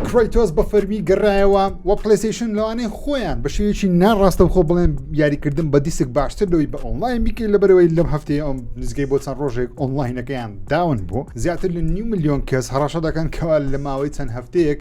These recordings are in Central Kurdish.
کرۆیتۆس بە فەرمی گەڕایەوە و پلیسیشن لەوانەیە خۆیان بە شێوێکی ناڕاستە خۆ بڵێن یاریکردن بە دیسک باشتر لەوەی بە ئۆنلاین بیکەی لە بەرەوەی لەم هەفتەیە ئەم نزگەی بۆ چەند ڕۆژێک ئۆنلاینەکەیان داون بوو زیاتر لە نیو میلیۆن کەس هەڕەشە دەکەن کەوا لە ماوەی چەند هەفتەیەک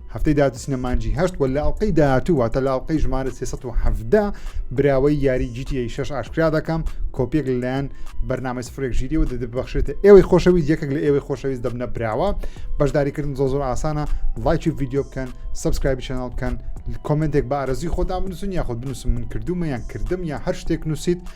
هەفتەی داهاتوو دەچینە مانجی هەشت و لە ئەڵلقەی داهاتوو واتە لە ئەڵلقەی ژمارە 317 براوەی یاری جیتیی شش ئاشکرا دەکەم کۆپیەک لەلایەن بەرنامەی سفرێک ژیریەوە دەبخشێتە ئێوەی خۆشەویست یەکێک لە ئێوەی خۆشەویست دەبنە براوە بەشداریکردن زۆ زۆر ئاسانە لایکی ڤیددیو بکەن سبسکرایبی چەناڵ بکەن کۆمنتێک بە ئارەزی خۆتان بنووسن یاخود بنووسم من کردومە یان کردم یا هەر شتێک نووسیت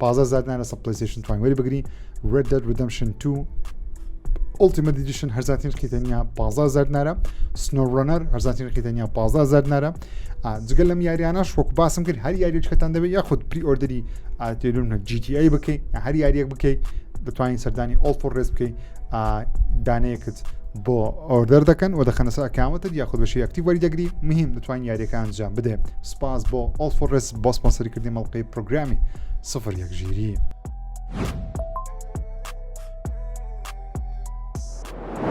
پازدە هەزار دینار لەسەر پلەیستەیشن توانین وەری بگرین Red Dead Redemption 2 Ultimate Edition هەرزانترین رقی تەنیا 15 هەزار دینارە Snow Runner هەرزانترین رقی تەنیا 15 هەزار دینارە جگە لەم یاریانەش وەکو باسم کرد هەر یاریچکەتان دەبێت یاخود پری ئۆردری ئاتێلون GTA بکەیت هەر یاریەک بکەیت دەتوانین سەردانی ئۆڵفۆ ڕێز بکەیت دانەیەکت بۆ ئۆردەر دەکەن و دەخەنە سەر ئەکاوەتت یاخود بەشی ئەکتی وەریدەگری مهم دەتوان یاریەکە ئەنجام بدێ سپاس بۆ ئۆڵفڕس بۆ سپۆنسەری کردی مەڵقی پرۆگرامی سفر یەک ژیری.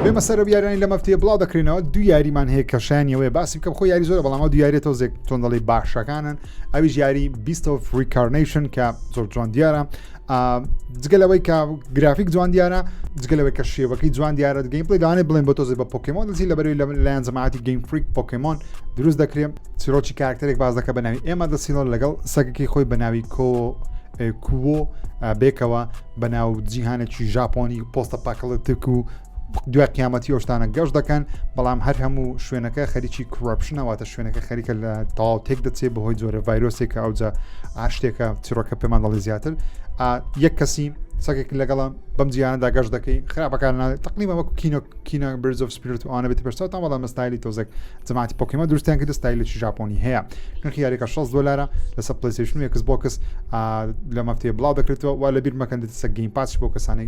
بێمە سەرە یارانی لە مەفتەیە بڵاو دەکرێنەوە دو یاریمان هەیە کەشانیەوەی باسی بکەم خۆ یاری زۆر بەڵامەوە دیارێت تۆزێک تۆندەڵی باشەکانن ئەویش یاری بیستەوە فریکارنیشن کە زۆر جوان دیارە جگە لەوەی کە گرافیک جوان دیارە جگە لەوەی کە شێوەکەی جوان دیارە گەیم پلی داانێ بڵێن بۆ تۆزی بە پۆکیمۆن دەچی لە بەروی لە لایەن جەماعتی گەیم فریک پۆکیمۆن دروست دەکرێن چیرۆکی کارکتەرێک باز دەکە بە ناوی ئێمە دەسیڵۆ لەگەڵ سەگەکەی خۆی بە ناوی کۆ کوۆ بێکەوە بە ناو جیهانێکی ژاپۆنی پۆستە پاکڵتک و دوای قیامەتی ئەو شتانە گەشت دەکەن بەڵام هەر هەموو شوێنەکە خەریکی کوڕپشنەوەتە شوێنەکە خەریکە لە تەواو تێک دەچێت بەهۆی جۆرە ڤایرۆسێکە ئەوجا ئاشتێکە تیرۆکە پێمان دەڵی زیاتر یەک کەسی سەکێک لەگەڵم بەم جیانەدا گەشت دەکەی خراپەکان تقلیمە وەکو کینۆ کینە برز of سپیرت وانە بێت پێشتا تا بەڵام مەستایلی تۆزێک جماعتی پۆکیمە دروستیان کرد ستایلێکی ژاپۆنی هەیە نرخی یاریەکە 6 دلارە لەسەر پلیسیشن یەکس بۆکس لە مەفتێ بڵاو دەکرێتەوە وا لە بیر مەکەن دەسە گەین پاچ بۆ کەسانی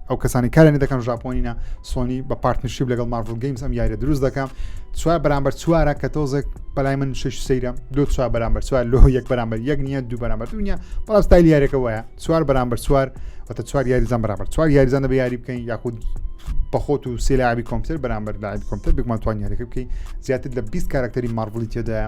ئەو کەسانی کارێنە دەکەم ژاپۆنینە سۆنی بە پارتنشیب لەگەڵ مارڤل گەیمز ئەم یاریە دروست دەکەم چوار بەرامبەر چوارە کە تۆزێک بەلای من شش سەیرە دو چوار بەرامبەر چوار لۆ یەک بەرامبەر یەک نییە دوو بەرامبەر دنیا بەڵام ستایل یاریەکە وایە چوار بەرامبەر چوار وتە چوار یاریزان بەرامبەر چوار یاریزان دەبێ یاری بکەین یاخود بەخۆت و سێلاوی کۆمپیوتەر بەرامبەر داعی کۆمپیوتەر بگمان توان یاریەکە بکەین زیاتر لە 20 کارکتەری مارڤلی تێدایە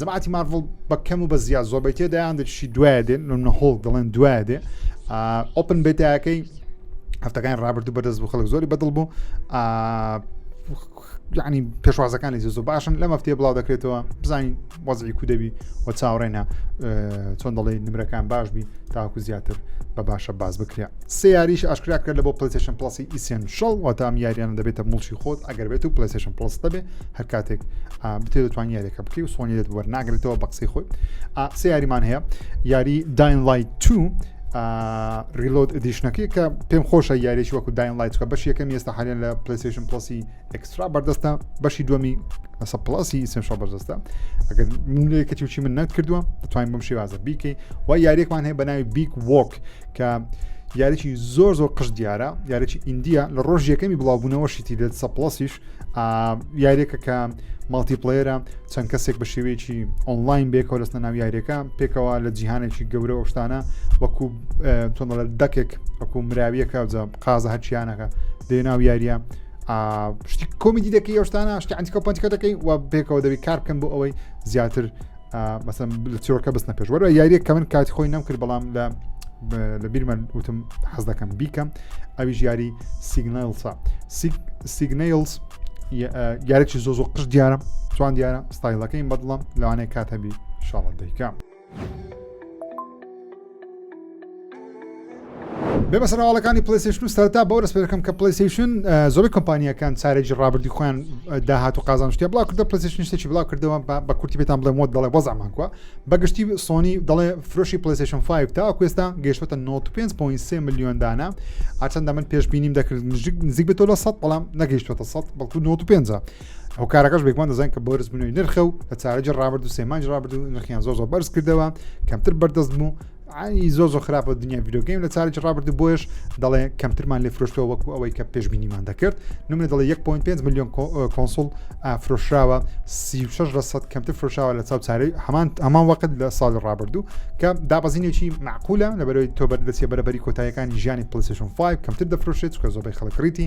جەماعەتی مارڤڵ بە کەم و بە زیاد زۆربەی تێدایان دەچی دوایە دێن نە هۆڵ دەڵێن دوایە دێ ئۆپن بێتایەکەی هەفتەکان ڕابردوو بەدەست بوو خەڵک زۆری بەدڵ بوو ینی پێشوازەکانی زۆ باشن لە مەفتێ بڵاو دەکرێتەوە بزانین وەزی کو دەبی و چاوڕێنە چۆن دەڵێ نمرەکان باش بی تاکو زیاتر بە باشە باز بکرێ سیاریش ئاشکرا کرد لە بۆ پلیسشن پلسی ئیسیان شڵ واتام یاریان دەبێتە مڵشی خۆت ئەگەر بێت و پلیسشن پلس دەبێ هەر کاتێک بتێ دەتوان یاریەکە بکەی و سۆنیێت بەر ناگرێتەوە بە قسەی خۆی سێ یاریمان هەیە یاری داین لای تو ریلۆد دیشنەکەی کە پێم خۆشە یاریێکی وەکو داین لایتکە بەش یەکەم ئێستا حالێن لە پلیسیشن پلسی ئەکسترا بەردەستە بەشی دومی لەسە پلاسی ئیسنشا بەردەستە ئەگەر منێکەتی وچی من نەت کردووە دەتوانین بم شێوازە بیکەی و یاریێکمان هەیە بە ناوی بیک وۆک کە یاریی زۆر زۆر قش دیارە یاریی ئیندیا لە ڕۆژ یەکەمی بڵاوبوونەوەشیتی لە سەپلاسیش یاریەکە کە ماڵتی پلێرە چەند کەسێک بە شێوەیەکی ئۆنلاین بێکەوە لەستە ناو یاریەکە پێکەوە لە جیهانێکی گەورە ئەوشتانە وەکو تۆنەڵە دەکێک وەکو مراویەکە جە قازە هەرچیانەکە دێ ناو یاریە شتی کۆمیدی دەکەی ئەوشتانە شتی ئەنتیکۆ پنتیکە دەکەی و پێکەوە دەبی کارکەن بۆ ئەوەی زیاتر مەسم لە چیرۆکە بستنە پێش وەرە یاریێک کە من کاتی خۆی نەم کرد بەڵام لە لە بیرمە وتم حەز دەکەم بیکەم ئەوی ژیاری سیگنلسا سیگنلس یارێکی زۆ زۆ قش دیارە چوان دیارە ستایلەکەی بەدڵم لەوانەیە کات هەبی شاڵ دەیکە. بێمە سەرواڵەکانی پلیسیشن و سەرتا بەو رسپێکەکەم کە پلیسیشن زۆری کۆمپانیەکان چارێکی ڕابردی خۆیان داهات و قازان شتێ بڵاو کردە پلیسیشن شتێکی بڵاو کردەوە بە کورتی بێتان بڵێ مۆت دەڵێ وەزعمان کووە بەگشتی سۆنی دەڵێ فرۆشی پلیسیشن 5 تا کوێستا گەشتە 95.3 میلیۆن دانە ئاچەندە من پێشببینیم دەکرد نزیک بێتەوە لە 100 بەڵام نەگەیشتوەتە 100 بەڵکو 95 ئەو کارەکەش بێگومان دەزان کە بۆرز بنەوەی نرخە و لە چارەجی ڕابرد و سێمانج ڕابرد و نرخیان زۆ زۆ بەرز کردەوە کەمتر بەردەست بوو ئەی زۆ زۆ خراپە دنیا ڤیدۆگەیم لە چارج ڕابرد و بۆش دەڵێ کەمترمان لێ فرۆشتەوە وەکو ئەوەی کە پێشببینیمان دەکرد نمە دەڵێ 1.5 میلیۆن کۆنسول فرۆشراوە 36 لە سەد کەمتر فرۆشاوە لە چاو چارەی هەمان هەمان وەقت لە ساڵی ڕابرد و کە دابەزینێکی معقولە لە بەرەوەی تۆبەر دەچێ بەرەبەری کۆتایەکانی ژیانی پلیسشن 5 کەمتر دەفرۆشێت چکە زۆبەی خەڵکڕیتی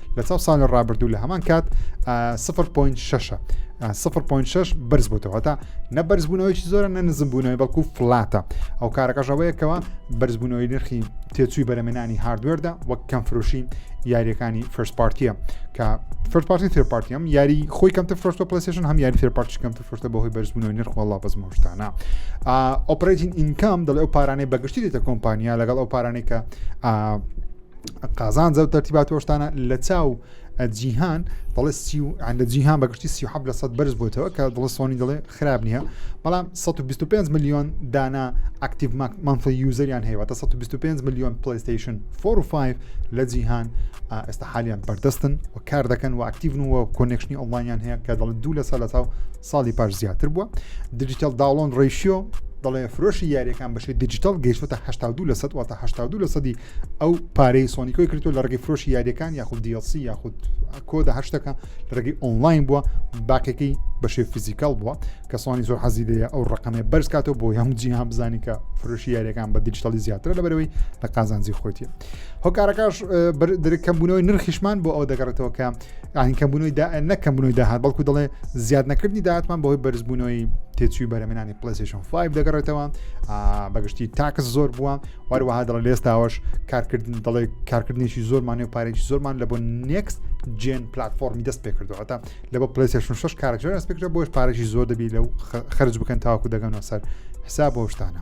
لە چاو ساڵی ڕابردوو لە هەمان کات 0.6 0.6 بەرز بووەوە هەتا نە بەرزبوونەوەیکی زۆرە نە نزمبوونەوەی بەڵکو فلاتە ئەو کارەکەشەوەیەکەوە بەرزبوونەوەی نرخی تێچووی بەرەمێنانی هاردوێردا وەک کەم فرۆشی یاریەکانی فرست پارتیە کە فرست پارتی تر پارتیم یاری خۆی کەمتە فرۆشتە پلیسشن هەم یاری تر پارتی کەمتە فرۆشتە بەهۆی بەرزبوونەوەی نرخ وڵا بەس مۆشتانە ئۆپرین ئینکام دەڵێ ئەو پارانەی بەگشتی دێتە کۆمپانیا لەگەڵ ئەو پارانەی کە قازانجە و تەرتیبات و شتانە لە چاو جیهان دەڵێ سی و لە جیهان بەگشتی سی حب لە سەد بەرز بۆتەوە کە دڵ سۆنی دڵێ خراپ نییە بەڵام 125 میلیۆن دانا ئاکتیڤ مانفل یوزەریان هەیە تا 125 میلیۆن پلیستیشن 4 و 5 لە جیهان ئێستا حالیان بەردەستن و کار دەکەن و ئاکتیڤن و کۆنێکشنی ئۆڵانیان هەیە کە دەڵ دوو لە سەر لە چاو ساڵی پاش زیاتر بووە دیجیتال داڵۆن ڕیشیۆ دەڵێ فرۆشی یاریەکان بەشی دیجیتال گەیشتە 82 لە سە واتە 82 لە سەدی ئەو پارەی سۆنیکۆی کردو لە ڕگەی فرۆشی یاریەکان یاخود دیسی یاخود کۆدا هەشتەکە لە ڕگەی ئۆنلاین بووە باقێکی بەشێ فیزیکال بووە کە سۆنی زۆر حەزی دەیە ئەو ڕقەمێ بەرز کاتەوە بۆ هەم جیهان بزانین کە فرۆشی یاریەکان بە دیجیتالی زیاتر لە بەرەوەی لە قازانجی خۆتیە هۆکارەکەش درکەمبوونەوەی نرخیشمان بۆ ئەو دەگەڕێتەوە کە یعنی کەمبوونەوەی دا نە کەمبوونەوەی داهات بەڵکو دەڵێ زیاد نەکردنی داهاتمان بەهۆی بەرزبوونەوەی تێچووی بەرەمێنانی پلسیشن 5 دەگەڕێتەوە بەگشتی تاکس زۆر بووە وەروەها دەڵێ لێستاوەش کارکردن دەڵێ کارکردنیشی زۆرمانێ و پارێکی زۆرمان لە بۆ نێکست جێن پلتفۆرمی دەست پێکردو هەتا لە بۆ پلسیشن 6 کارەکە دەست پێکرە بۆش پارێکی زۆر دەبی لەو خرج بکەن تاوەکو دەگەنەوە سەر حساب بۆشتانە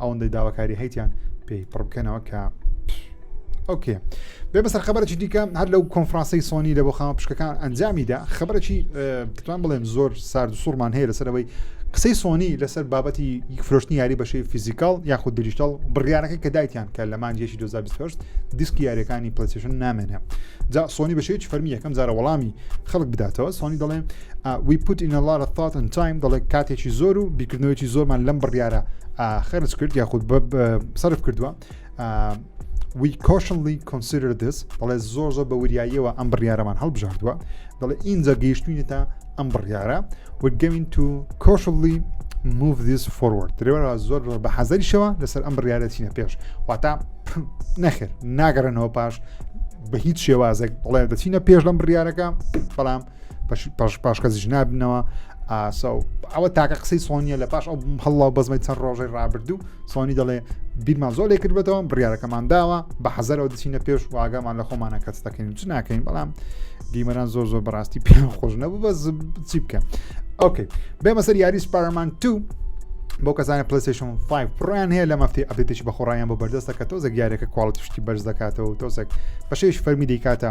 ئەوەندەی داواکاری هەیتیان پێی پڕ بکەنەوە کە ئۆکێ بێ بەسەر خبرەی دیکە هەر لەو کۆنفرانسی سۆنی لە بۆ خاوە پشکەکان ئەنجامیدا خبرەی بتوان بڵێم زۆر سارد سوورمان هەیە لەسەرەوەی قسەی سۆنی لەسەر بابەتی فرۆشتنی یاری بەشەی فیزیکال یاخود دریشتال بڕیارەکە کە دایتیان کە لە مانجێکی 2020 دیسکی یاریەکانی پلسیشن نامێنێ جا سۆنی بەشێکی فەرمی یەکەم جارە وەڵامی خەڵک بداتەوە سۆنی دەڵێن We put in a lot of thought and time دەڵێ کاتێکی زۆر و بیکردنەوەیکی زۆرمان لەم بڕیارە خەرج کرد یاخود سرف کردووە We cautionly consider this دەڵێ زۆر زۆر بە وریاییەوە ئەم بڕیارەمان هەڵبژاردووە دەڵێ ئینجا گەیشتوینێتە ئەم بڕیارە we're going to cautionly move this forward درێوەرە زۆر بە حەزەریشەوە لەسەر ئەم بڕیارە چینە پێش واتا نەخێر ناگەڕێنەوە پاش بە هیچ شێوازێک بڵێ دەچینە پێش لەم بڕیارەکە بەڵام پاش کەسیش نابنەوە ئاسا و ئەوە تاکە قسەی سۆنیە لە پاش ئەو هەڵڵا بەزمەی چەند ڕۆژەی ڕابردوو سۆنی دەڵێ بیرمان زۆر لێ کردبێتەوە بڕارەکەمان داوە بە حەزەرەوە دچینە پێش واگەمان لە خۆمانە کەس دەکەین چ ناکەین بەڵام دیمەران زۆر زۆر بەڕاستی پێ خۆش نەبوو بە چی بکە ئۆکەی بێمە سەر یاری سپارمان تو بۆ کەسانە پلیسشن 5 پڕیان هەیە لە مەفتی ئەبێتیش بە خۆڕایان بۆ بەردەستە کە تۆزە گیارەکە کوالڵتیشتی بەرز دەکاتەوە تۆزێک بەشێش فەرمی دیکاتە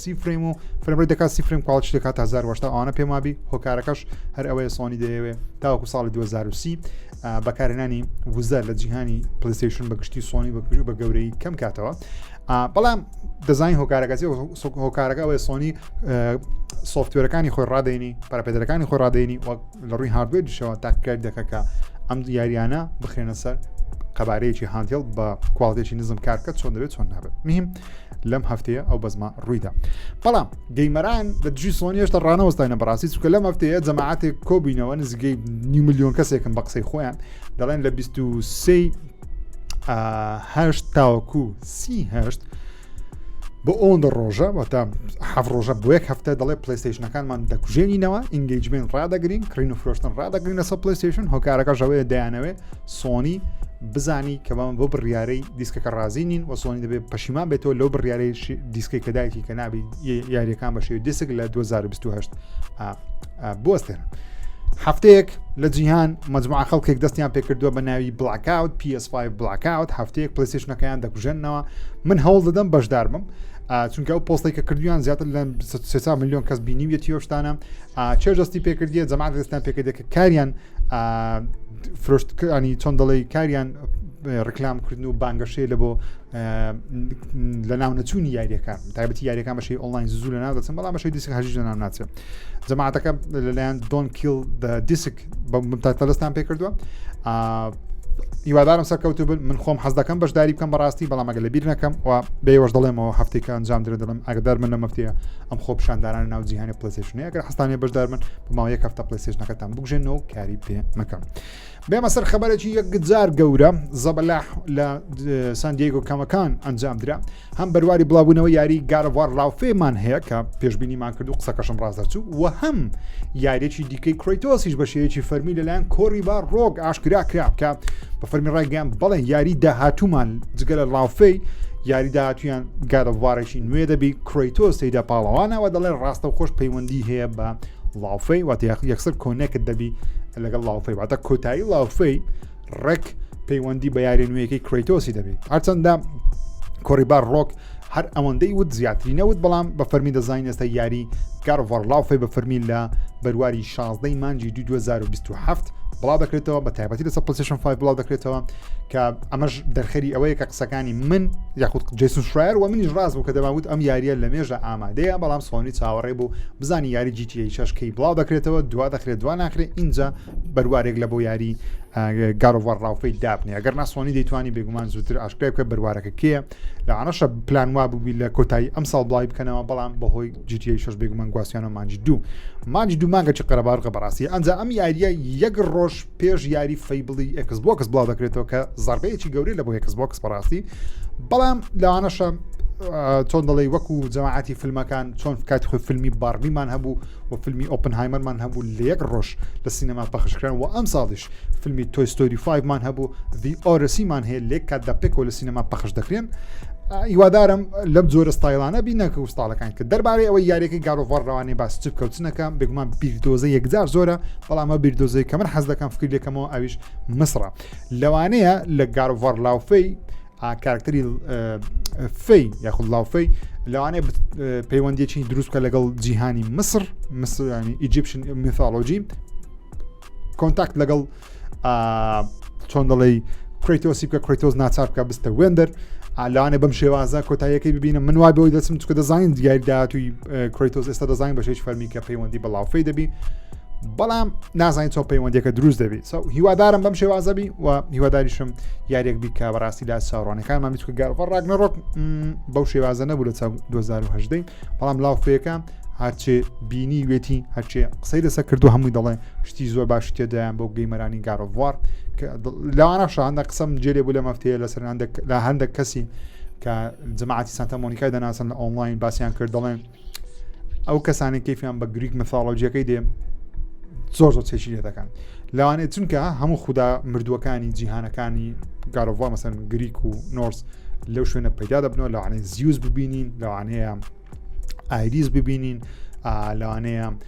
سی فرەیم و فرەمرەی دەکات سی فرەیم کاڵچ دەکات تا 1970 ئەوانە پێم وابی هۆکارەکەش هەر ئەوەیە سۆنی دەیەوێ تاوەکو ساڵی 2030 بەکارهێنانی وزە لە جیهانی پلیسیشن بە گشتی سۆنی بەکوژ بە گەورەی کەم کاتەوە بەڵام دەزانین هۆکارەکەسی هۆکارەکە ئەوەیە سۆنی سوفتوێرەکانی خۆی ڕادێنی پراپێدەرەکانی خۆی ڕادێنی وەک لە ڕووی هاردوێدیشەوە تاکرد دەکەکە ئەم یاریانە بخێنە سەر قەبارەیەکی هاندێڵ بە کوواڵتێکی نزم کارکە چۆن دەبێت چۆن نابێت میم لەم هەفتەیە ئەو بەزما ڕوویدا بەڵام گەیمەران لە دژی سۆنی هێشتا ڕانەوەستاینە بەڕاستی چکە لەم هەفتەیە جەماعاتێک کۆبینەوە نزیگەی نی میلیۆن کەسێکم بە قسەی خۆیان دەڵێن لە 23 هەشت تاوەکو سی هەشت بۆ ئەوەندە ڕۆژە واتە حەف ڕۆژە بۆ یەک هەفتە دەڵێ پلیستیشنەکانمان دەکوژێنینەوە ئینگەیجمنت ڕدەگرین کڕین و فرۆشتن ڕدەگرین لەسە پلیستیشن هۆکارەکە ژەوەیە دەیانەوێ سۆنی بزانی کە بەمە بۆ بڕیارەی دیسکەکە ڕازی نین و سۆنی دەبێت پەشیمان بێتەوە لەو بڕیارەی دیسکی کە دایکی کە نابی یاریەکان بەشێ دیسک لە 2028 بۆستێن. هەفتەیەک لە جیهان مەجموعە خەڵکێک دەستیان پێکردووە بە ناوی بڵکاوت PS5 بڵکاوت هەفتەیەک پلیسیشنەکەیان دەکوژێنەوە من هەوڵ دەدەم بەشدار بم چونکە ئەو پۆستی کە کردویان زیاتر لە 300 میلیۆن کەس بینیویەتی هۆشتانە چێژدەستی پێکردیە جەماعات دەستیان پێکردێک کاریان فرۆشتکانی چۆن دەڵی کاریان ڕکلامکردن و بانگەشەیە لە بۆ لە ناو نەچوونی یاریەکە تایبەتی یاریەکان بەشی ئۆنلاین زوو لە ناو دەچن بەڵام بەشی دیسک هەژی لە ناو ناچێت جەماعاتەکە لەلایەن دۆن کیل دیسک بە تەلستان پێ کردووە هیوادارم سەرکەوتو بن من خۆم حەز دەکەم بەشداری بکەم بەڕاستی بەڵامەگە لە بیر نەکەم و بێوەش دەڵێمەوە هەفتێکە ئەنجام درێ دەڵم ئەگەدار من لە مەفتەیە ئەم خۆپشاندانان ناو جیهانی پلسێشنەیە گەر حستانێ بەشدار من بماوە یەک هەفتە پلسێشنەکە ئەم بگژێنەوە کاری پێ مەکەم بێمە سەر خەبەرێکی یەکجار گەورە زەبەلا لە سندیگۆ کەمەکان ئەنجام درا هەم بەرواری بڵاوبوونەوە یاری گارەوار ڕاوفێمان هەیە کە پێشببینیمان کرد و قسەکەشم ڕاز دەچوو و هەم یاریێکی دیکەی کرۆیتۆسیش بەشەیەکی فەرمی لەلایەن کۆری با ڕۆک ئاشکرا کرا بکە بە فەرمی ڕایگەیان بەڵێ یاری داهاتومان جگە لە ڵاوفەی یاری داهاتویان گارەوارێکی نوێ دەبی کرۆیتۆس تێدا پاڵەوانەوە دەڵێ ڕاستە خۆش پەیوەندی هەیە بە ڵاوفەی واتە یەکسەر کۆنێکت دەبی لەگەڵ ڵاوفەی واتە کۆتایی ڵاوفەی ڕێک پەیوەندی بە یاری نوێیەکەی کرۆیتۆسی دەبێت هەرچەندە کۆریبار ڕۆک هەر ئەوەندەی وت زیاتری نەوت بەڵام بە فەرمی دەزانین ئێستا یاری گارڤەر لاوفی بە فەرمی لە بەرواری 16 مانجی 2027 بڵاو دەکرێتەوە بە تایبەتی لەسەر پلسیشن 5 بڵاو دەکرێتەوە کە ئەمەش دەرخەری ئەوەیە کە قسەکانی من یاخود جیسن شرایر و منیش ڕاست بوو کە دەماوت ئەم یاریە لە مێژە ئامادەیە بەڵام سۆنی چاوەڕێ بوو بزانی یاری جیتی شەشکەی بڵاو دەکرێتەوە دوا دەخرێت دوا ناخرێت اینجا بەروارێک لە بۆ یاری گاروەڕ ڕاوفەی دابنێ ئەگەر ناسۆنی دەیتوانی بێگومان زووتر ئاشکرای بکە بەروارەکە کێ لە ئەنەشە پلان وا ببی لە کۆتایی ئەم ساڵ بڵاوی بکەنەوە بەڵام بەهۆی جیتی شش بێگومان گواستیانە مانج دوو مانج دوو مانگەی قەرەبارقە بەڕاستی ئەنجا ئەم یاریە یەک ڕۆژ پێش یاری فەیبڵی ئەکس بۆکس بڵاو دەکرێتەوە کە زربەیەکی گەورەی لە بۆ ئەکس بۆکس بەڕاستی بەڵام لەوانەشە چۆن دەڵی وەکو جەماعاتی فیلمەکان چۆن کاتی خۆی فیلمی بارمیمان هەبوو و فیلمی ئۆپنهایمەرمان هەبوو لە یەک ڕۆژ لە سینەما پەخشکران و ئەم ساڵیش فیلمی تۆیستۆری 5مان هەبوو دی ئۆرسیمان هەیە لێک کات دە پێکەوە لە سینەما پەخش دەکرێن هیوادارم لەم جۆرە ستایلانە بینەکە و ستاڵەکان کە دەربارەی ئەوەی یاریەکەی گارۆڤڕوانێ باس چ بکەوتنەکە بگومان بیردۆزە یەکجار زۆرە بەڵام ئەو بیردۆزەی کە من حەز دەکەم فکری لەکەمەوە ئەویش مسرە لەوانەیە لە گارڤەر لاوفەی کارکتەری فەی یاخود لاوفەی لەوانەیە پەیوەندیەکی دروستکە لەگەڵ جیهانی مسر مسرانی ئیجیپشن میثالۆجی کۆنتاکت لەگەڵ چۆن دەڵی کریتۆسی بکە کریتۆز ناچار بکە بستە وێندەر ئالانە بەم شێوازە کۆتاییەکەی ببینە من وای بەوەی دەچم چکە دەزانین دیاری داهاتوی کریتۆز ئێستا دەزانین بەشێش فەرمی کە پەیوەندی بەڵاوفەی دەبی بەڵام نازانین چۆن پەیوەندەکە دروست دەبێت سو هیوادارم بەم شێوازەبی و هیواداریشم یاریەک بی کە بەڕاستی لا چاڕوانەکانمان میچکە گەڕ ڕاگنە ڕۆک بەو شێوازە نەبوو لە چاو 2010 بەڵام لاوفەکە هەرچێ بینی وێتی هەرچێ قسەی لەسەر کردو هەمووی دەڵێ شتی زۆر باش تێدایان بۆ گەیمەرانی گارۆڤوار لەوانە شاندە قسەم جێلێ بوو لە مەفتەیە لەسەر لە هەندێک کەسی کە جماعتی سانتا مۆنیکای دەناسن لە ئۆنلاین باسییان کرد دەڵێن ئەو کەسانی کەفیان بە گریک مەثاڵۆجیەکەی دێ زۆر زۆر چێکی لێ دەکەن لەوانێت چونکە هەموو خوددا مردووەکانی جیهانەکانی گارۆڤۆ مەسەن گریک و نۆرس لەو شوێنە پەیدا دەبنەوە لەوانێ زیوز ببینین لەوانەیە ئایریز ببینین لەوانەیە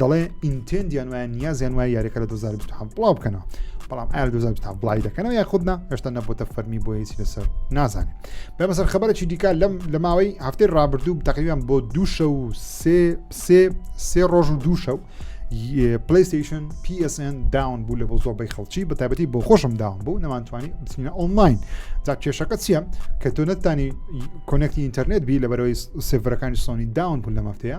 دەڵێ ئینتێندیان وایە نیازیان وایە یاریەکە لە 2020 بڵاو بکەنەوە بەڵام ئار 2020 بڵی دەکەنەوە یا خودنا هێشتا نەبووتە فەرمی بۆ هیچی لەسەر نازانێت بە بەسەر خبرەی دیکە لەم لە ماوەی هەفتەی ڕابردوو تقریبان بۆ دووشە و سێ سێ سێ ڕۆژ و دووشە و پلیستیشن PSN داون بوو لە بۆ زۆربەی خەڵکی بە تابەتی بۆ خۆشم داون بوو نەمانتوانی بچینە ئۆنلاین جا کێشەکە چییە کە تۆ نەتانی کۆنەکتی ئینتەرنێت بی لە بەرەوەی سێڤەرەکانی سۆنی داون بوو لە مەفتەیە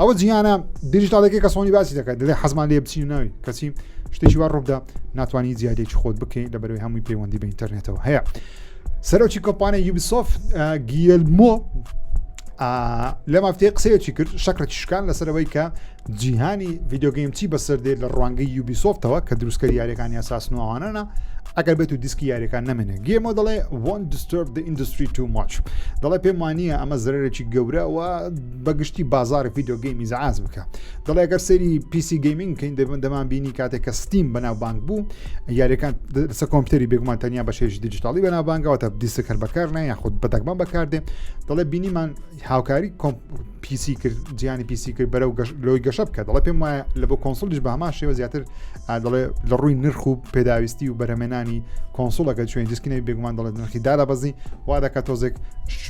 ئەوە جیانە دیجیتالێکی کە سۆنی باسی دەکات دلێ حەزمان لێ بچین ناوی کەچی شتێکی وا ڕووبدا ناتوانانی زیادێکی خۆت بکەین لە بەرەوەی هەمووی پەیوەندی بە ئینتەرنێتەوە هەیە سەرۆکی کۆپانە یوبیسۆف گیلمۆ لە مافتەیە قسەیەکی کرد شەکرەی شکان لەسەرەوەی کە جیهانی ڤیددیوگەیم چی بەسەر دێت لە ڕوانگەی یوبیسۆفتەوە کە دروستکەری یاریەکان یاساس نوواوانەنا ئەگەر بێت و دیسکی یاریەکان نامێنێ گێمە دەڵێ وان دسترب ئینندستری تو ماچ دەڵێ پێم وانە ئەمە زەرێکی گەورە و بەگشتی بازاری ڤیددیو گەیمی زعاز بکە دەڵێ گەر سەری پیسی گەیمنگ کەین دەبن دەمان بینی کاتێک کە ستیم بەناوبانگ بوو یاریەکان لەسە کۆمپیوتەری بێگومان تەنیا بە شێژی دیجیتاڵی بەناوبانگەوە تا دیسە کەر بەکار نە یاخود بەدەگمان بەکاردێ دەڵێ بینیمان هاوکاری پیسی کرد جیانی پیسی کرد بەرەو لۆی گەشە بکە دەڵێ پێم وایە لە بۆ کۆنسڵیش بە هەمان شێوە زیاتر دەڵێ لە ڕووی نرخ و پێداویستی و بەرەمێنانی کۆنسڵەکە چێن دیسکنەوی بێگومان دەڵێت نرخی دارە بەزی وا دەکە تۆزێک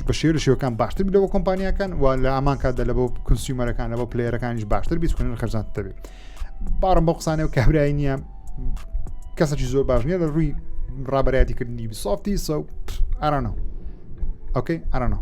بە شێر شێوەکان باشتر لەوە کۆمپانیەکان و لە ئامان کاتدا لە بۆ کنسیومەرەکان لە بۆ پلێرەکانیش باشتر بیسکن خەرزان دەبێت باڕم بۆ قسانێ و کابرای نییە کەسەکی زۆر باش نیە لە ڕووی ڕابەرایەتی کردنی بیسۆفتی سە ئارانەوە ئۆکەی ئارانەوە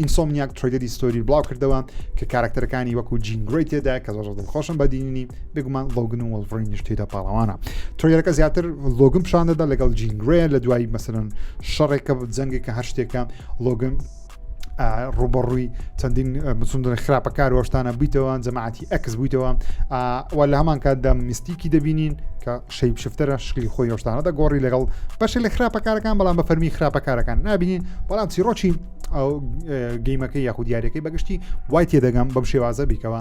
ئینسۆمنیاک ترۆیدەدی ستۆری بڵاو کردەوە کە کارکتەرەکانی وەکو جین گرۆی تێدا کە زۆر دڵخۆشم بە دینی بێگومان ڵۆگن و وەڵڕینیش تێدا پاڵەوانە ترۆیەکە زیاتر لۆگم پیشان دەدا لەگەڵ جین گرێ لە دوای مەسەرن شەڕێکە جەنگێک کە هەر شتێکە لۆگن ڕوبەڕووی چەندین مسندن خراپەکار وەشتانە بوویتەوە جەماعەتی ئەکس بوویتەوە وە لە هەمان کاتدا میستیکی دەبینین کە شەیپ شفتەرە شکلی خۆی هۆشتانە دەگۆڕی لەگەڵ بەشێ لە خراپەکارەکان بەڵام بە فەرمی خراپەکارەکان نبینین بەڵام چیرۆکی ئەو گەیمەکە یاخود دیارەکەی بەگشتی وای تێدەگەم بەم شێوازە بیکەوە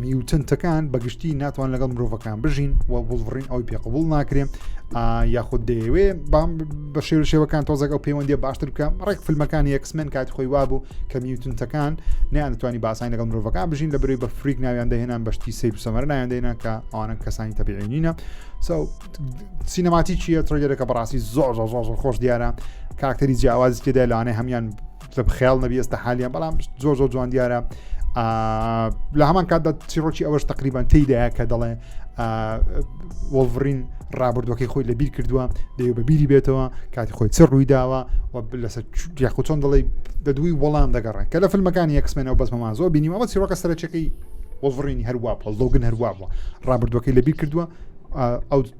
میوتنتەکان بەگشتی ناتوان لەگەڵ مرۆڤەکان بژین و بڵڕین ئەوی پێقبول ناکرێن یاخود دەیەوێ بە شێوە شێوەکان تۆزەک ئەو پەیوەندی باشتر بکە ڕێک فیلمەکانی یەکسمێن کاتی خۆی وابوو کە میوتنتەکان نیان دەتوانانی باسانی لەگەڵ مرۆڤەکان بژین لە بروی بە فریک ناویان دەهێنان بەشتی سیر و سەمەر ناویان دێنە کە ئەوانە کەسانی تەبیعینینە سینەماتی چیە ترگەرەکە بەڕاستی زۆر زۆر زۆر خۆش دیارە کاکتەری جیاوازی تێدا لەوانەیە هەمان تە بخیال نەبی ئێستا حالیان بەڵام زۆر زۆر جوان دیارە لە هەمان کاتدا چیڕۆکی ئەوەش تقریبان تێدایە کە دەڵێ وەڵڤڕین ڕابردوەکەی خۆی لە بیر کردووە دەیە بە بیری بێتەوە کاتی خۆی چ ڕووی داوە و لەسەر یاخود چۆن دەڵی دە دووی وەڵام دەگەڕێن کە لە فیلمەکانی یەکسمێنەوە بەسمەمان زۆر بینیم ئەوە چیڕۆکە سەرچەکەی وەڵڤڕینی هەروە پڵدۆگن هەروە بووە ڕابردوەکەی لە بیر کردووە ئەو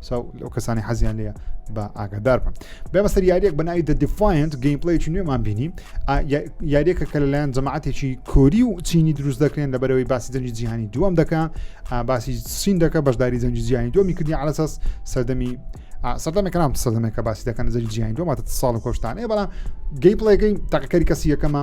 ساو لەو کەسانی حەزیان لێە بە ئاگادار بم بێمەسەر یاریەک بە ناوی دەدیفاینت گەیمپلەیکی نوێمان بینی یاریەکە کە لەلایەن جەماعاتێکی کۆری و چینی دروست دەکرێن لە بەرەوەی باسی جەنگی جیهانی دووەم دەکە باسی سین دەکە بەشداری جەنگی جیهانی دومی کردی علەسەس سەردەمی سەردەمێک نام سەردەمێکە باسی دەکەن جەنگی جیهانی دوماتە ساڵ و کۆشتانەیە بەڵام گەی پڵێگەی تاقیکاری کەسی یەکەمە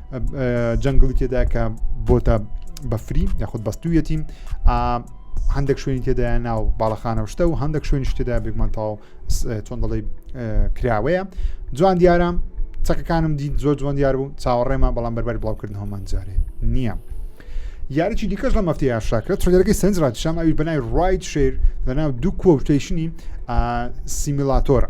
جەنگڵی تێدا کە بۆتە بەفری یاخود بەستویەتی هەندێک شوێنی تێدا ناو باڵەخانە شتە و هەندێک شوێنی شتێدا بێگمانتاو چۆن دەڵی کراوەیە جوان دیارە چەکەکانم دیت زۆر جوان دیار بوو چاوەڕێمە بەڵام بەربەر بڵاوکردن هەمان جارێ نییە. یاریی دیکەش لە مەفتی یاشاکرێت ترگەرەکەی سنج ڕاتشام ئەوی بەنای ڕایت شێر لەناو دوو کۆشتەیشنی سیمیلاتۆرە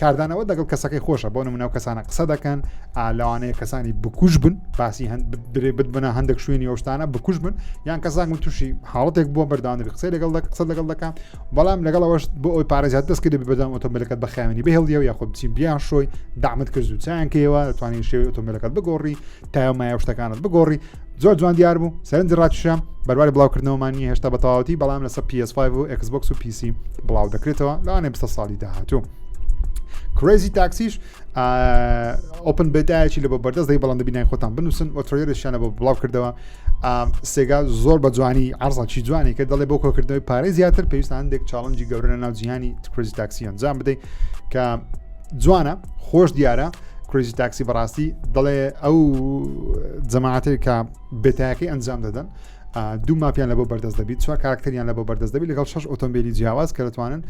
کاردانەوە دەگەڵ کەسەکەی خۆشە بۆ نمونەو کەسانە قسە دەکەن لەوانەیە کەسانی بکوش بن باسی درێ ببنە هەندێک شوێنی ئەوشتانە بکوش بن یان کەسان من تووشی حاڵەتێک بۆ بەردانری قسەی لەگەڵ قسە لەگەڵ دەکەم بەڵام لەگەڵەوەش بۆ ئەوی پارێزات دەست کرد بەدام ئۆتۆمبیلەکەت بە خاوێنی بهێڵیەوە یاخۆ بچی بیان شۆی دامت کرد و چیانکەیەوە توانین شێوی ئۆتۆمبیلەکەت بگۆڕی تایمایە شتەکانت بگۆڕی زۆر جوان دیار بوو سەرنج ڕاکیشە بەرواری بڵاوکردنەوەمان نیە هێشتا بەتەواوەتی بەڵام لەسەر PS5 و Xbox و PC بڵاو دەکرێتەوە لەوانێ بسە ساڵی داهاتوو کرێزی تاکسیش ئۆپن بێتایەکی لە بە بەردەست دەی بەڵام دەبینای خۆتان بنووسن و ترۆێرشیانە بۆ بڵاو کردەوە سێگا زۆر بە جوانی ئارزانچی جوانی کە دەڵێ بۆ کۆکردنەوەی پارەی زیاتر پێویستان هەندێک چاڵنجی گەورە لە ناو جیهانی تکرزی تاکسی ئەنجام بدەیت کە جوانە خۆش دیارە کریزی تاکسی بەڕاستی دەڵێ ئەو جەماعاتێک کە بێتایەکەی ئەنجام دەدەن دوو ماپیان لە بۆ بەردەست دەبیت چوار کاراکتەریان لە بۆ بەردەست دەبی لەگەڵ شش ئۆتۆمبیلی جیاواز کە دەتوانن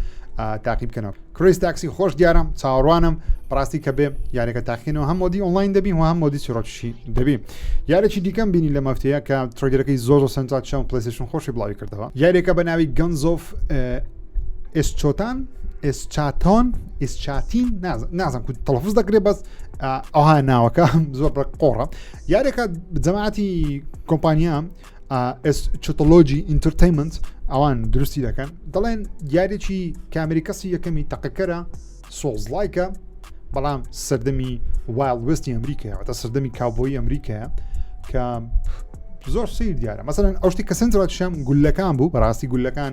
تاقی بکەنەوە کریس تاکسی خۆش دیارم چاوەڕوانم ڕاستی کە بێ یارەکە تاقینەوە هەم مۆدی ئۆنلاین دەبی و هەم مۆدی چیرۆکشی دەبی یارێکی دیکەم بینی لە مەفتەیە کە ترگرەکەی زۆر سنتا چەند پلیسشن خۆشی بڵاوی کردەوە یاریەکە بە ناوی گەنزۆف ئێسچۆتان ئێسچاتۆن ئیسچاتین نازم کو تەڵفز دەکرێت بەس ئەها ناوەکە زۆر بە قۆڕە یارێکە جەماعتی کۆمپانیا چتۆلۆجی ئینترتەیمنت ئەوان دروستی دەکەن دەڵێن یارێکی کامری کەسی یەکەمی تەقەکەرە سۆزلایکە بەڵام سەردەمی وایل وستی ئەمریکای ئەوتە سەردەمی کاوبۆی ئەمریکایە کە زۆر سیر دیارە مەسەن ئەو شتی کە سنجڕاتشم گولەکان بوو بەڕاستی گولەکان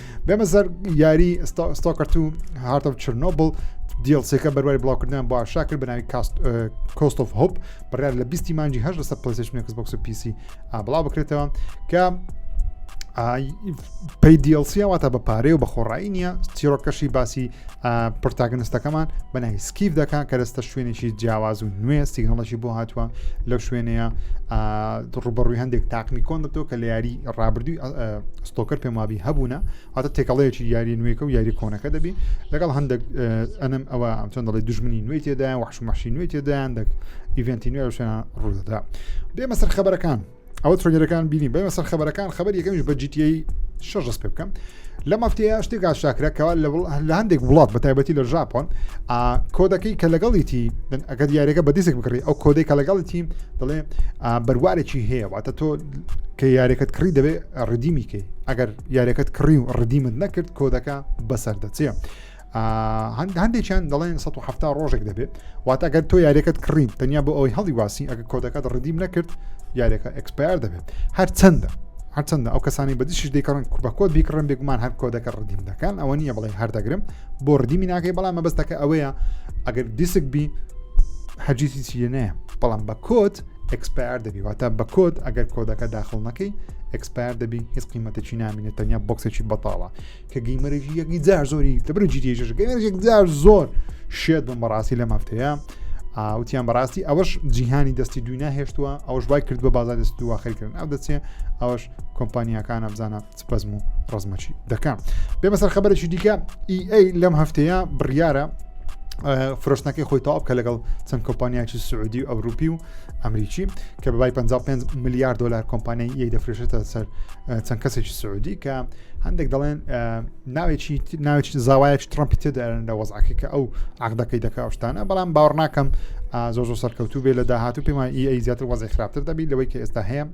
بێمە زەر یاری ستۆکەرت و هارت و چرنۆبل دیڵسێکە بەروای بڵاوکردنیان بۆ ئاشا کرد بەناوی کاست کۆست of هۆپ بڕیار لە بیستی مانجی هەش لەسەر پلیسشنێکس بۆکس و پیسی ئابڵا بکرێتەوە کە پی دیڵسیە واتە بە پارەی و بە خۆڕایی نییە چیرۆکەشی باسی پرتاگنستەکەمان بەنای سکیف دەکەن کە دەستە شوێنێکی جیاواز و نوێ سیگنڵەشی بۆ هاتووە لەو شوێنەیە ڕوبەڕووی هەندێک تاقمی کۆن دەبتەوە کە لە یاری ڕابردووی ستۆکەر پێم وابی هەبوونە واتە تێکەڵەیەکی یاری نوێکە و یاری کۆنەکە دەبی لەگەڵ هەندێک ئەنم ئەوە ئەم چۆن دەڵی دژمنی نوێی تێدایە وحشمەشی نوێی تێدایان دەک ئیڤنتی نوێ شوێن ڕوودەدا بێمە سەر خبرەکان ئەوە ترۆنیەکان بینی بەمە سەر خبرەکان خبر یەکەمیش بە جیتی شەش ڕست پێ بکەم لە مەفتەیە شتێک ئاشاکرەکەەوە لە هەندێک وڵات بە تایبەتی لە ژاپۆن کۆدەکەی کە لەگەڵیتی ئەگە دیارەکە بە دیسک بکڕی ئەو کۆدەی کە لەگەڵیتی دەڵێ بەروارێکی هەیە واتە تۆ کە یارێکت کڕی دەبێت ڕدیمی کەی ئەگەر یاریەکەت کڕی و ڕدیمت نەکرد کۆدەکە بەسەر دەچێ هەندێکیان دەڵێن 1970 ڕۆژێک دەبێت وات ئەگەر تۆ یاریەکەت کڕین تەنیا بۆ ئەوەی هەڵی واسی ئەگە کۆدەکەت ڕدیم نەکرد یاریەکە ئەکسپار دەبێت هەر چەندە هەرچەندە ئەو کەسانی بەدیشش دەیکڕن بە کۆت بیکڕن بێگومان هەر کۆدەکە ڕدیم دەکەن ئەوە نییە بڵێ هەردەگرم بۆ ڕدیمی ناکەی بەڵام مەبەستەکە ئەوەیە ئەگەر دیسک بی هەرجیسی چیە نەیە بەڵام بە کۆت ئەکسپایەر دەبی واتە بە کۆد ئەگەر کۆدەکە داخل نەکەی ئەکسپایەر دەبی هیچ قیمەتێکی نامینە تەنیا بۆکسێکی بەتاڵە کە گەیمەرێکی یەکی جار زۆری دەبرە جیریێژ گەمێژێک جار زۆر شێت بم بەڕاستی لە مافتەیە ئاوتیان بەڕاستی ئەوەش جیهانی دەستی دوی ناهێشتووە ئەوش وای کرد بە بازار دەست دووە خەرکردن ئەو دەچێ ئەوش کۆمپانیەکانە بزانە سپەزم و ڕزمەچی دەکەم بێ بەسەر خبرێکی دیکە ئیئەی لەم هەفتەیە بڕیارە فرۆشتنەکەی خۆی تاو بکە لەگەڵ چەند کۆمپانیاکی سعودی و ئەوروپی و ئەمریکی کە بەبای 55 میلیارد دلار کۆمپانیای یەک دەفرێشێتە سەر چەند کەسێکی سعودی کە هەندێک دەڵێن ناوێکی ناوێک زاوایەک ترامپی تێدارن لە وەزعەکە کە ئەو عقدەکەی دەکە ئەوشتانە بەڵام باوەڕناکەم زۆ زۆ سەرکەوتوو بێ لە داهاتوو پێمان ئی زیاتر وەزی خراپتر دەبی لەوەی کە ئێستا هەیە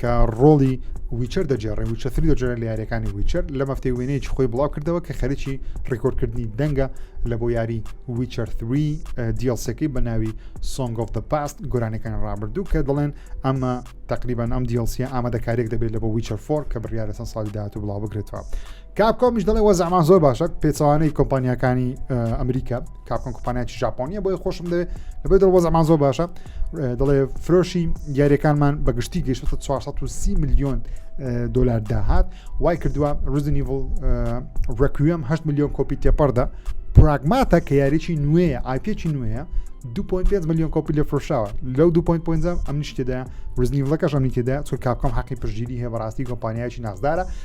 کە ڕۆڵی ویچەر دەجێڕێ وچە تری دەجێرە لە یاریەکانی ویچەر لە مەفتەی وێنەیەکی خۆی بڵاو کردەوە کە خەرکی ڕیکۆردکردنی دەنگە لە بۆ یاری ویچەر تری دیڵسەکەی بە ناوی سۆنگ of the پاست گۆرانەکان ڕابردوو کە دەڵێن ئەمە تقریبان ئەم دیڵسیە ئامادەکارێک دەبێت لە بۆ ویچەر فۆر کە بڕیارەسەن ساڵی داهاتوو بڵاو بگرێتەوە کاپکۆمیش دەڵێ وەزعمان زۆر باشە پێچوانەی کۆمپانیەکانی ئەمریکا کاپکۆن کۆمپانیاکی ژاپۆنیە بۆی خۆشم دەێ لەبێ دڵ وەزعمان زۆر باشە دەڵێ فرۆشی یاریەکانمان بە گشتی گەشت 430 میلیۆن دلار داهات وای کردووە ڕزنیڤڵ ڕکوم 8 میلیۆن کۆپی تێپەردا پراگماتە کە یاریی نوێیە ئاپێکی نوێە 2.5 میلیۆن کۆپی لە فرۆشاوە لەو 2.5 ئەم نیشتێدا ڕزنیڤڵەکەش ئەمی تێدا چۆ کاپکۆم حەقی پشگیری هەیە بەڕاستی کۆمپانیایکی نازدارە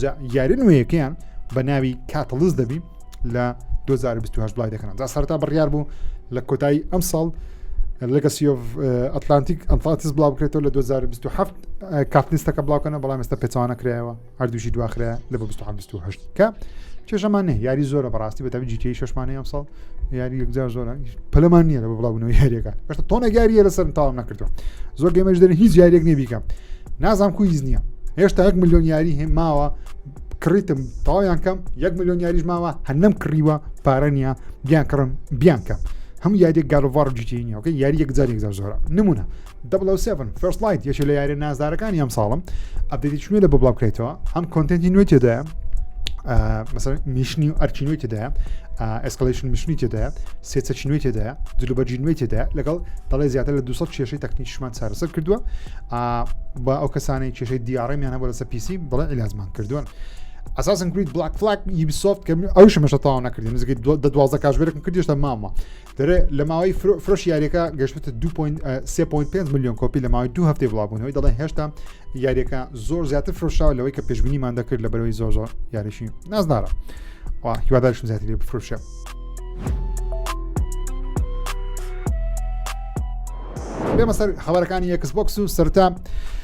جا یاری نوێیەکەیان بە ناوی کاتەڵز دەبی لە 2020 بڵای دەکەن جا سەرتا بڕیار بوو لە کۆتایی ئەم ساڵ لەگەسیۆف ئەتلانتیک ئەمفاتس بڵاو بکرێتەوە لە 2027 کاتلیستەکە بڵاوکەنە بەڵام ئێستا پێچوانە کرایەوە هەردووشی دواخرا لە بە 2020 کە کێشەمان نە یاری زۆرە بەڕاستی بە تەبی جیتی شمانەیە ئەم ساڵ یاری یەکجار زۆر پەلمان نییە بە بڵاوبوونەوە یاریەکان بەشتە تۆنە یاریە لەسەر تاوام نەکردو زۆر گەمەش دەرن هیچ یاریەک نیە بیکەم نازام کو هیچ نییە هێشتا یەک میلیۆن یاری هێ ماوە کڕیتم تاوایان کەم یەک میلیۆن یاریش ماوە هەنم کڕیوە پارە نیە بیان کڕم بیان کەم هەموو یاریێک گالڤار جیتینیەکە یاری یەکجار یەکجار زۆرە نمونە 007 First Light یەکێ لە یاریە نازدارەکانی ئەم ساڵم ئەبدیتیش نوێ لە بۆ بڵاو بکرێتەوە هەم کۆنتنتی نوێ تێدایە مەسەر میشنی و ئەرچی نوێ تێدایە ئەسکلشن میشنی تێدایە سێچەکی نوێ تێدایە جلوبەرجی نوێ تێدایە لەگەڵ دەڵێ زیاتر لە 200 کێشەی تەکنیکشمان چارەسەر کردووە بە ئەو کەسانی کێشەی دیارڕێمیان هەبوو لەسە پیسی بڵێ ئیلازمان کردووە ئەساسن کرید بلاک فلاک یبسۆفت کە ئەو شمەشە تاوا نەکردی نزیکەی دوازە کاژێرەکم کردیشتە مامە دەرێ لە ماوەی فرۆش یاریەکە گەشتە 2.3.5 میلیۆن کۆپی لە ماوەی دو هەفتەی بڵاوبوونەوەی دەڵێن هێشتا یاریەکە زۆر زیاتر فرۆشاوە لەوەی کە پێشببینیمان دەکرد لە بەرەوەی زۆر زۆر یاریشی نازدارە هیوادارشم زیاتر لێ بفرۆشە. بێمە سەر خبرەکانی یەکس بۆکس و سەرتا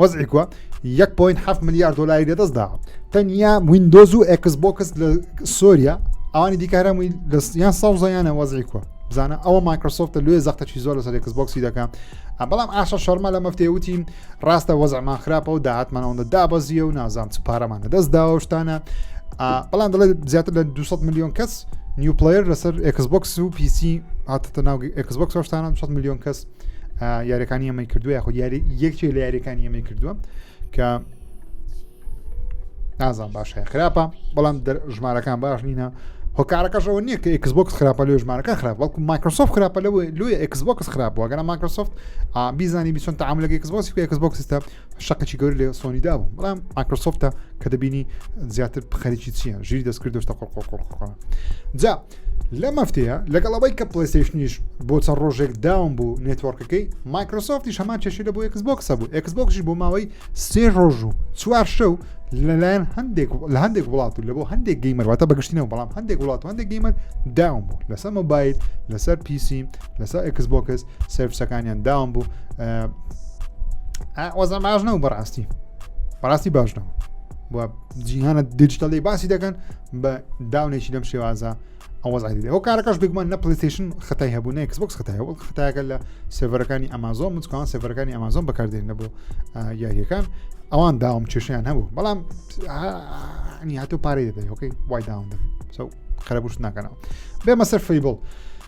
وەزعی کوە یەک پوین هەفت ملیار دلاری لەدەست دا تەنیا وینندۆز و ئەکس بۆکس لە سۆریا ئەوانی دیکارەمووی دەستیان سەوزەیانە وەزعی کوە بزانە ئەوە مایکرۆسۆفت لێ زەختەچی زۆر لەسەر ئەکس بۆکسی دەکەم بەڵام ئاشە شەرمە لە مەفتێ وتی ڕاستە وەزعمان خراپە و داهاتمان ئەوەندە دابەزیە و نازام چ پارەمان لەدەست داوەشتانە بەڵام دەڵێت زیاتر لە 200 میلیۆن کەس نیوپلیر لەسەر ئەکس بۆکس و پیسی هاتە ناو ئەکس بۆکس شتانە 100 میلیۆن کەس یاریەکانی ئەمەی کردو یاخۆ یاری یەکێک لە یاریەکانی ئەمەی کردووە کە نازان باشە خراپە بەڵام ژمارەکان باش نینە هۆکارەکەشەوە نییە کە ئەکسبکس خراپە لێ ژمارەکە خراپ بەڵکو مایکرۆسۆف خراپە لەوە لوی ئەکسبکس خراپەوەگەرە مایکرۆسۆفت بیزانانی بیسۆن تعاملەکە ئەکسبۆسی ئەکسبکسستە شقێکی گەور لێ سۆنی دابوو بەڵام ئاکرسۆفتە کە دەبینی زیاتر خەریکی چییە ژیری دەستکرد دۆشتە قۆقۆقۆقۆ جا لە مەفتەیە لەگەڵ ئەوەی کە پلیستیشنیش بۆ چەند ڕۆژێک داوم بوو نێتوەرکەکەی مایکرۆسۆفتی هەمان چێشی لە بۆ ئەکسبکسە بوو ئەکسبکشی بۆ ماوەی سێ ڕۆژ و چوار شەو لەلایەن هەندێک لە هەندێک وڵات و لە بۆ هەندێک گەیمەرواتە بەگشتینەوە بەڵام هەندێک وڵات و هەندێک گەیمەر داوم بوو لەسەر مۆبایل لەسەر پیسی لەسەر ئەکسبکس سروسەکانیان داوام بوو وەزە باش نەوە بەڕاستی بەڕاستی باش نەوە بۆ جیهانە دیجیتەڵی باسی دەکەن بە داونێکی لەم شێوازە ئەوەزعی ئەو کارەکەش بگومان نە پلیستیشن خەتای هەبوو نە کسبکس خەتای هەبوو خەتاکە لە سێڤەرەکانی ئەمازۆن مچکان سێڤەرەکانی ئەمازۆن بەکاردێن نەبوو یاریەکان ئەوان داوام کێشیان هەبوو بەڵام هاتو پارەی دەدەیەکەی وای داوام دەبێت خەرەبوش ناکەنەوە بێمە سەر فیبڵ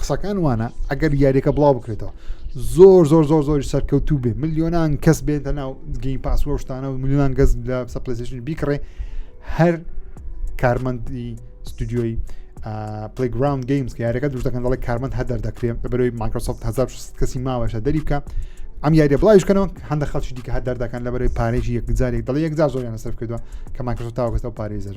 قسەکان وانە ئەگەر یاریەکە بڵاو بکرێتەوە زۆر زۆر زۆر زۆری سەرکەوتوو بێ میلیۆنان کەس بێتە ناو گەین پاسوە شتانە و میلیۆنان گەز لە سەپلسیشن بیکڕێ هەر کارمەندی ستودیۆی پلیگرام گەیمز یارەکە دوش دەکەن دەڵی کارمەند هەدەر دەکرێت بەرەوەی ماکرۆسۆفت 1600 کەسی ماوەشە دەری بکە ئەم یاریە بڵایشکەنەوە هەندە خەڵکی دیکە هەدەر دەکەن لە بەرەوەی پارێکی یەکجارێک دەڵی یەکجار زۆریان سەر کردووە کە ماکرۆسۆفت تاوەکەەوە پارێزەر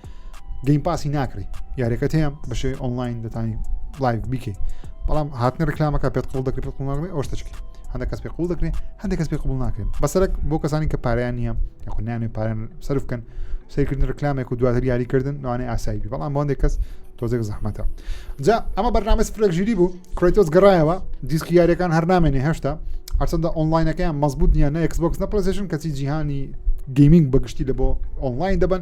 گەیم پاسی ناکڕی یاریەکە هەیە بەشێ ئۆنلاین دەتانی لایڤ بیکەی بەڵام هاتنە ڕکلامەکە پێت قوڵ دەکرێت پێ قوڵناڵێ ئەو شتەچکی هەندە کەس پێ قوڵ دەکرێت هەندێک کەس پێ قوڵ ناکرێن بەسەرک بۆ کەسانی کە پاریان نییە یاخنیانێ پارێن سرف بکەن سیرکردن ڕکلامێک و دواتر یاریکردن نوانێ ئاسایی بەڵام بۆندێک کەس تۆزێک زەحمەتە جا ئەمە بەرنامە سفرێک ژیری بوو کرێتۆس گەڕایەوە دیسکی یاریەکان هەر نامێنێ هێشتا هەرچەندە ئۆنلاینەکەیان مەزبوط نییە نە ئەکسبکس نە پلسشن کەچی جیهانی گەیمنگ بەگشتی لە بۆ ئۆنلاین دەبن